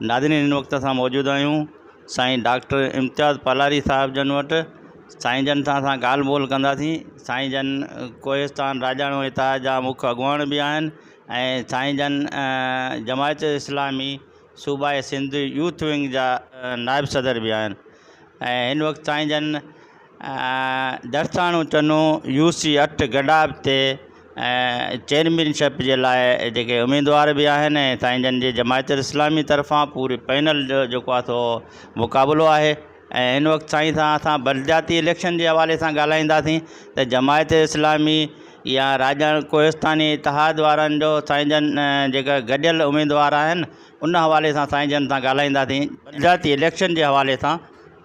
ناظرين هن وقت اسان موجود آهيون سائين ڊاڪٽر امتياز پالاري صاحب جن وٽ سائين جن سان اسان ڳالهه ٻولهه ڪنداسين سائين جن ڪوهستان راڄاڻو اتحاد جا مک اڳواڻ به آهن ۽ سائين جن جماعت اسلامي صوبائي سنڌ يوٿ ونگ جا نائب صدر به آهن ۽ هن وقت تائين جن درساڻو چنو يو سي اٺ گڏاپ تي چيئرمين شپ جي لاء جيڪي اميدوار به آهن ۽ سائين جن جي جماعت اسلامي طرفان پوري پينل جو جيڪو آهي سو مقابلو آهي ۽ هن وقت سائين سان اسان بلدياتي اليڪشن جي حوالي سان ڳالهائينداسين ته جماعت اسلامي يا راڄاڻ ڪوهستاني اتحاد وارن جو سائين جن جيڪا گڏيل اميدوار آهن ان حوالي سان سائين جن سان ڳالهائينداسين بلدياتي اليڪشن جي حوالي سان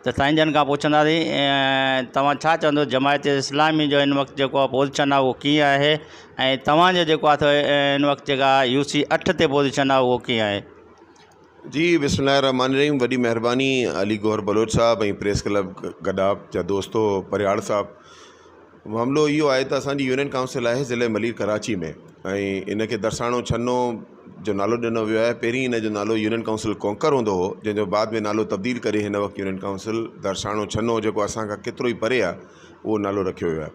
ته سائين جن کان پڇنداسين توهان ڇا چوندو جماعت اسلامي جو هن وقت جيڪو پوزيشن آهي اهو ڪيئن آهي ۽ توهان جو جيڪو آهي سو هن وقت جيڪا يو سي اٺ تي پوزيشن آهي اهو ڪيئن آهي جي بسم الله الرحمٰن الرحيم وڏي مهرباني علي گوهر بلوچ صاحب ۽ پريس ڪلب گڏاپ جا دوستو پرهياڙ صاحب معاملو اهو آهي ته اسانجي يونين ڪائونسل آهي ضلعي ملير ڪراچي ۾ ۽ ان کي درساڻو ڇنو جو نالو ڏنو ويو آهي پهرين ان جو نالو يونين ڪائونسل ڪونڪر هوندو هو جنهن جو بعد ۾ نالو تبديل ڪري هن وقت يونين ڪائونسل درساڻو ڇنو جيڪو اسان کان ڪيترو ئي پري آهي اهو نالو رکيو ويو آهي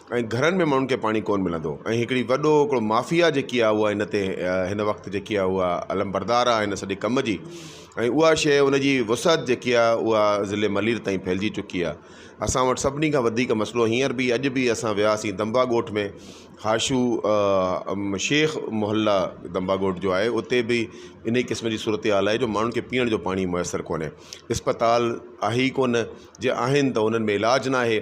۽ گهرن ۾ ماڻهن کي پاڻي ڪون ملندو ۽ هڪڙي وڏو هڪڙو مافيا جيڪي آ اها هن تي هن وقت جيڪي آ اها علمبردار آ هن سڄي ڪم جي ۽ اها شيء ان جي وسعت جيڪي آ اها ضلعي ملير تائين ڦهلجي چڪي آ اسان وٽ سڀني کان وڌيڪ مسئلو هينئر به اڄ به اسان وياسين دمبا ڳوٺ ۾ هاشو شيخ محله دمبا ڳوٺ جو آهي اتي به ان ئي قسم جي صورتحال آهي جو ماڻهن کي پيئڻ جو پاڻي ميسر ڪونهي اسپتال آهي ئي ڪون جي آهن ته انهن ۾ علاج ناهي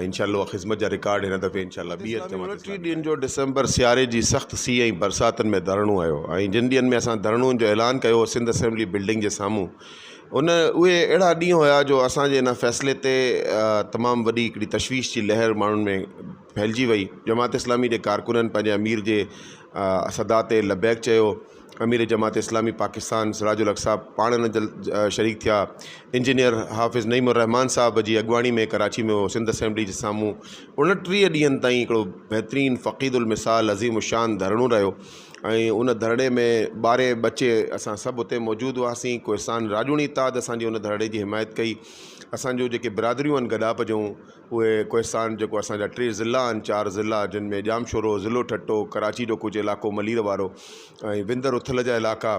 ۽ انشاء الله اها خدمت جا رڪارڊ هن دفعي انشاء الله ٻي هٿ مان ٽي ڏينهن جو ڊسمبر سياري جي سخت سيء ۽ برساتن ۾ ڌرڻو هيو ۽ جن ڏينهن ۾ اسان ڌرڻون جو اعلان ڪيو هو سنڌ اسيمبلي بلڊنگ جي سامهون ان اهي اهڙا ڏينهن هيا جو اسان جي ان فيصلي تي تمام وڏي هڪڙي تشويش جي لهر ماڻهن ۾ ڦهلجي وئي جماعت اسلامي جي ڪارڪنن پنهنجي امير جي صدا تي لبيڪ چيو امير جماعت اسلامي پاڪستان سراج الحق صاحب پاڻ ان جل شريڪ ٿيا انجنيئر حافظ نعيم الرحمان صاحب جي اڳواڻي ۾ ڪراچي ۾ هو سنڌ اسيمبلي جي سامهون اڻٽيهه ڏينهن تائين هڪڙو بهترين فقيد المثال عظيم الشان ڌرڻو رهيو ۽ ان ڌرڻي ۾ ٻاري ٻچي اسان سڀ اتي موجود هئاسين ڪوهستان راڄوڻي اتحاد اسان جي ان ڌرڻي جي حمايت ڪئي اسان جو جيڪي برادريون آهن گڏاپ جون اهي ڪوهستان جيڪو اسان جا ٽي ضلع آهن چار ضلع جن ۾ ڄامشورو ضلعو ٺٽو ڪراچي جو ڪجهه علائقو ملير وارو ۽ وندر اٿل جا علائقا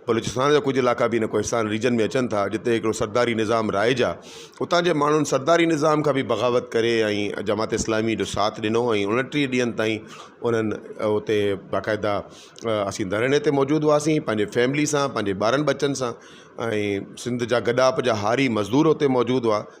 بلوچستان جا ڪجهه علائقا بي هن ڪوهستان ريجن ۾ اچن ٿا جتي هڪڙو سرداري نظام رائج آهي اتان جي ماڻهن سرداري نظام کان به بغاوت ڪري ۽ جماعت اسلامي جو ساٿ ڏنو ۽ اڻٽيهه ڏينهن تائين انهن اتي باقاعده اسين ڌرڻي تي موجود هئاسين پنهنجي فيملي سان پنهنجي ٻارن ٻچن سان ۽ سنڌ جا گڏاپ جا هاري مزدور اتي موجود هئا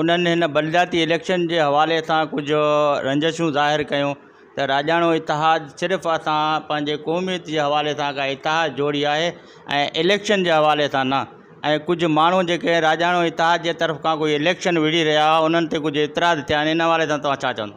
انهن هن بلدياتي اليڪشن جي حوالي سان ڪجهه رنجشون ظاهر ڪيون ته راڄاڻو اتحاد صرف اسان پنهنجي قوميت جي حوالي سان ڪا اتحاد جوڙي آهي ۽ اليڪشن جي حوالي سان نه ۽ ڪجهه ماڻهو جيڪي راڄاڻو اتحاد جي طرف کان ڪوئي اليڪشن وڙهي رهيا هئا انهن تي ڪجهه اعتراض ٿيا آهن ان حوالي سان توهان ڇا چوندو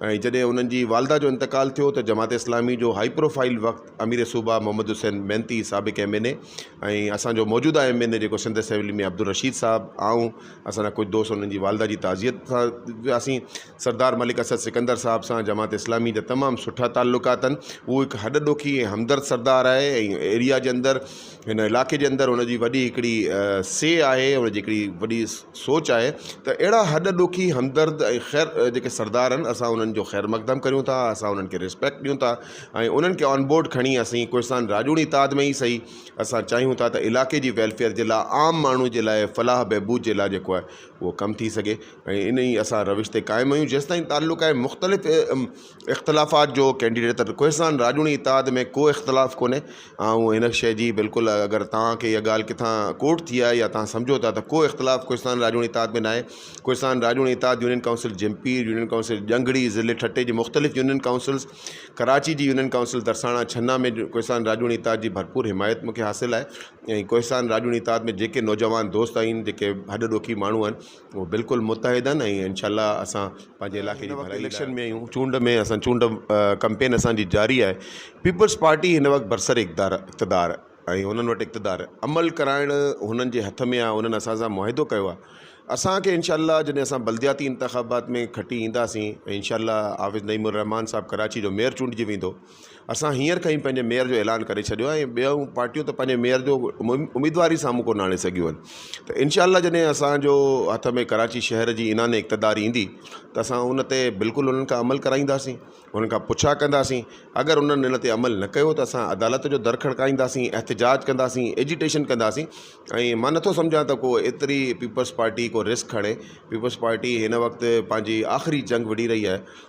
۽ جڏهن انهن جي والده جو انتقال ٿيو ته جماعت اسلامي جو هائي پروفائيل وقت امير صوبه محمد حسين محنتي سابق ايم اين اي ۽ اسان جو موجوده ايم اين اي جيڪو سنڌ اسيمبلي ۾ عبدالرشيد صاحب آئون اسان جا ڪجهه دوست انهن جي والده جي تعزيت سان وياسين سردار ملڪ اسد سڪندر صاحب سان جماعت اسلامي جا تمام سٺا تعلقات آهن هو هڪ هڏڏوکي ۽ همدرد سردار آهي ۽ ايريا جي اندر هن علاقي جي اندر هن جي وڏي هڪڙي سي آهي هن جي هڪڙي وڏي سوچ آهي ته اهڙا هڏ ڏوکي همدرد ۽ خير جيڪي سردار آهن اسان انهن جو خير مقدم ڪريون ٿا اسان انهن کي ريسپيڪٽ ڏيون ٿا ۽ انهن کي آن بورڊ کڻي اسين ڪوهستان راڄوڻي تعاد ۾ ئي سهي اسان چاهيون ٿا ته علاقي جي ويلفيئر جي لاء عام ماڻهو جي لاء فلاح بهبود جي لاء جيڪو آهي اهو ڪم ٿي سگهي ۽ انهي اسان روش تي قائم آهيون جيستائين تعلق آهي مختلف اختلافات جو ڪينڊيڊيٽ ته ڪوهستان راڄوڻي اتحاد ۾ ڪو اختلاف ڪونهي آئون هن شيء جي بلڪل اگر توهان کي اها ڳالهه ڪٿان ڪوٽ ٿي آهي يا توهان سمجهو ٿا ته ڪو اختلاف ڪوهستان راڄوڻي اتحاد ۾ ناهي ڪوهستان راڄوڻي اتحاد union council Jhimpir union council ڄنگهڙي ضلعي ٺٽي جي مختلف يونين ڪائونسلز ڪراچي جي يونين ڪائونسل ترساڻا ڇنا ۾ ڪوهستان راڄوڻي اتحاد جي ڀرپور حمايت مونکي حاصل آهي ۽ ڪوهستان راڄوڻي اتحاد ۾ جيڪي نوجوان دوست آهن جيڪي هڏ ڏوکي ماڻهو آهن اهو بلڪل متحد آهن ۽ انشاء الله اسان پنهنجي علائقي جي ڀلائي اليڪشن ۾ آهيون چونڊ ۾ اسان چونڊ ڪمپين اسانجي جاري آهي پيپلز پارٽي هن وقت برسر اقدار اقتدار ۽ هنن وٽ اقتدار عمل ڪرائڻ هنن جي هٿ ۾ آهي هنن اسان سان معاهدو ڪيو آهي اسانکي انشاء الله جڏهن اسان بلدياتي انتخابات ۾ کٽي اينداسين انشاء الله حافظ نعيم الرحمان صاحب ڪراچي جو ميئر چونڊجي ويندو اسان هينئر کان ئي پنهنجي ميئر جو اعلان ڪري ڇڏيو آهي ۽ ٻيون پارٽيون ته پنهنجي ميئر جو اميدوار ئي سامهون ڪونه آڻي سگهيون آهن ته انشاء الله جڏهن اسانجو هٿ ۾ ڪراچي شهر جي اينان اقتدار ايندي ته اسان ان تي بلڪل انهن کان عمل ڪرائينداسين انهن کان پڇا ڪنداسين اگر انهن ان تي عمل نه ڪيو ته اسان عدالت جو در کڙڪائينداسين احتجاج ڪنداسين ايجيٽيشن ڪنداسين ۽ مان نٿو سمجهان ته ڪو ايتري پيپلز پارٽي ڪو رسڪ کڻي پيپلز پارٽي هن وقت پنهنجي آخري جنگ وڙهي رهي آهي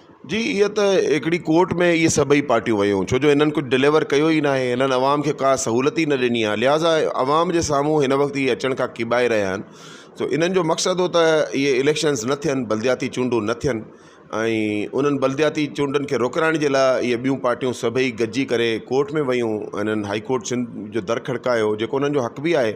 جي هيء ته هڪڙي ڪورٽ ۾ اهي سڀئي پارٽيون ويون ڇو جو هنن ڪجهه ڊليور ڪيو ئي ناهي هنن عوام کي ڪا سهولت ئي نه ڏني آهي لهٰذا عوام جي سامهون هن وقت اهي اچڻ کان ڪيٻائي رهيا آهن سو انهن جو مقصد هو ته اهي اليڪشنز نه ٿين بلدياتي چونڊون نه ٿين ۽ انهن بلدياتي چونڊن کي روڪرائڻ جي لاء اهي ٻيون پارٽيون سڀئي گڏجي ڪري ڪورٽ ۾ ويون هنن هائي ڪورٽ سنڌ جو در کڙڪايو جيڪو انهن جو حق به آهي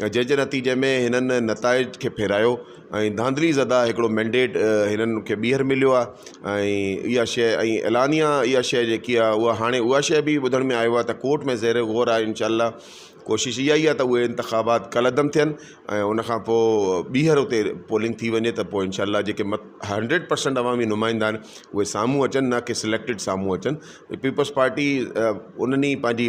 جنهن جي نتيجي ۾ هنن نتائج کي ڦيرايو ۽ ڌانڌلي زده هڪڙو مينڊيٽ هنن کي ٻيهر مليو آ ۽ اها شئي ۽ اعلانيا اها شئي جيڪي آ اها هاڻي اها شئي به ٻڌڻ ۾ آيو آ ته ڪورٽ ۾ زير غور آ انشاء الله ڪوشش اها ئي آ ته اهي انتخابات ڪالعدم ٿين ۽ ان کان پو ٻيهر اتي پولنگ ٿي وڃي ته پو انشاء الله جيڪي مت هنڊريڊ پرسينٽ عوامي نمائندا آهن اهي سامهون اچن نه ڪي سليڪٽيڊ سامهون اچن پيپلز پارٽي انهن ئي پنهنجي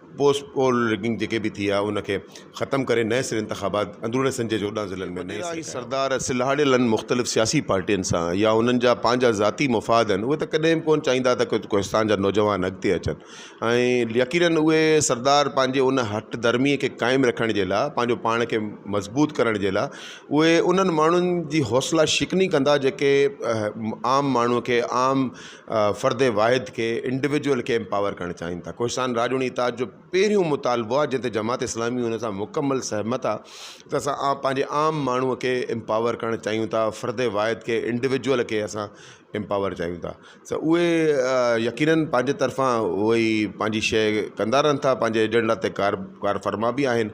پوسٽ پول رگنگ جيڪي به ٿي آهي ان کي ختم ڪري نئين سري انتخابات اندروني سنڌ جي چوڏهن ضلعن ۾ نئين سري ٺاهڻ سردار سلهاڙيلن مختلف سياسي پارٽين سان يا انهن جا پنهنجا ذاتي مفاد آهن اهي ته ڪڏهن به ڪونه چاهيندا ته ڪوهستان جا نوجوان اڳتي اچن ۽ يقينن اهي سردار پنهنجي ان هٺ ڌرمي کي قائم رکڻ جي لاء پنهنجو پاڻ کي مضبوط ڪرڻ جي لاء اهي انهن ماڻهن جي حوصلا شڪني ڪندا جيڪي عام ماڻهو کي عام فرد واحد کي Individual کي Empower ڪرڻ چاهين ٿا ڪوهستان راڄوڻي اتحاد جو پهريون مطالبو آهي جنهن تي جماعت اسلامي ان سان مڪمل سهمت آهي ته اسان عام پنهنجي عام ماڻهو کي Empower ڪرڻ چاهيون ٿا فرد واحد کي Individual کي اسان Empower چاهيون ٿا ته اهي يقينن پنهنجي طرفان اهي پنهنجي شيء ڪندا رهن ٿا پنهنجي ايجنڊا تي ڪار ڪارفرما به آهن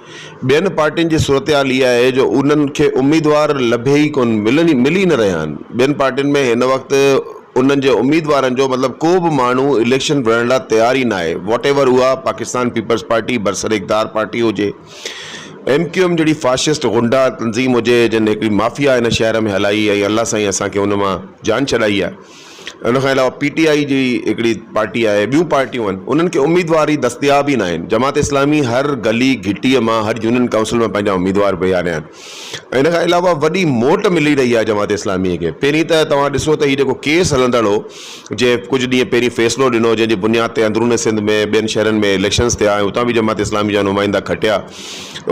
ٻين پارٽين جي صورتحال اها آهي جو انهن کي اميدوار لڀي ئي ڪونه، ملي ئي نه رهيا آهن. ٻين پارٽين ۾ هن وقت انهن جي اميدوارن جو مطلب ڪو به ماڻهو اليڪشن وڙهڻ لاء تيار ئي ناهي واٽ ايور اها پاڪستان پيپلز پارٽي برسراقتدار پارٽي هجي، ايم ڪيو ايم جهڙي فاشسٽ غنڊا تنظيم هجي جنهن هڪڙي مافيا هن شهر ۾ هلائي ۽ الله سائين اسان کي ان مان جان ڇڏائي آهي. ان کان علاوه پي ٽي آء جي هڪڙي پارٽي آهي ٻيون پارٽيون آهن انهن کي اميدوار ئي دستياب ئي ناهن جماعت اسلامي هر گلي گهٽي مان هر يونين ڪائونسل مان پنهنجا اميدوار بيهاريا آهن ۽ ان کان علاوه وڏي موٽ ملي رهي آهي جماعت اسلامي کي پهرين ته توهان ڏسو ته هي جيڪو ڪيس هلندڙ هو جي ڪجهه ڏينهن پهرين فيصلو ڏنو جنهن جي بنياد تي اندرون سنڌ ۾ ٻين شهرن ۾ اليڪشنس ٿيا ۽ اتان به جماعت اسلامي جا نمائندا کٽيا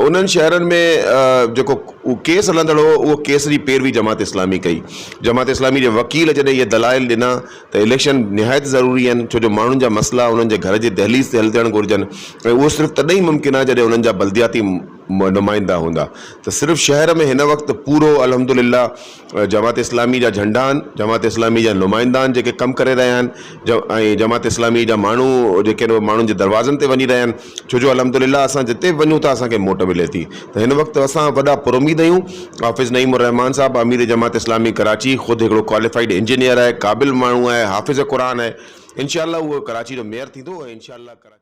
انهن شهرن ۾ جيڪو ڪيس هلندڙ هو اهو ڪيس جي پيروي جماعت اسلامي ڪئي جماعت اسلامي جي وڪيل جڏهن اهي دلائل ڏنا ته اليڪشن نهايت ضروري آهن ڇو جو ماڻهن جا مسئلا انهن جي گهر جي دهليز تي حل ٿيڻ گهرجن ۽ اهو صرف تڏهن ئي ممڪن آهي جڏهن انهن جا بلدياتي نمائندا هوندا ته صرف شهر ۾ هن وقت پورو الحمدلله جماعت اسلامي جا جهنڊا آهن جماعت اسلامي جا نمائندا آهن جيڪي ڪم ڪري رهيا آهن ۽ جماعت اسلامي جا ماڻهو جيڪي آهن اهي ماڻهن جي دروازن تي وڃي رهيا آهن ڇو جو الحمد لله اسان جتي به وڃون ٿا اسانکي موٽ ملي ٿي ته هن وقت اسان وڏا پر اميد آهيون حافظ نعيم الرحمان صاحب امير جماعت اسلامي ڪراچي خود هڪڙو ڪواليفائيڊ انجنيئر آهي قابل ماڻهو آهي حافظ قرآن آهي انشاء الله هو ڪراچي جو ميئر ٿيندو ۽ انشاء الله ڪراچي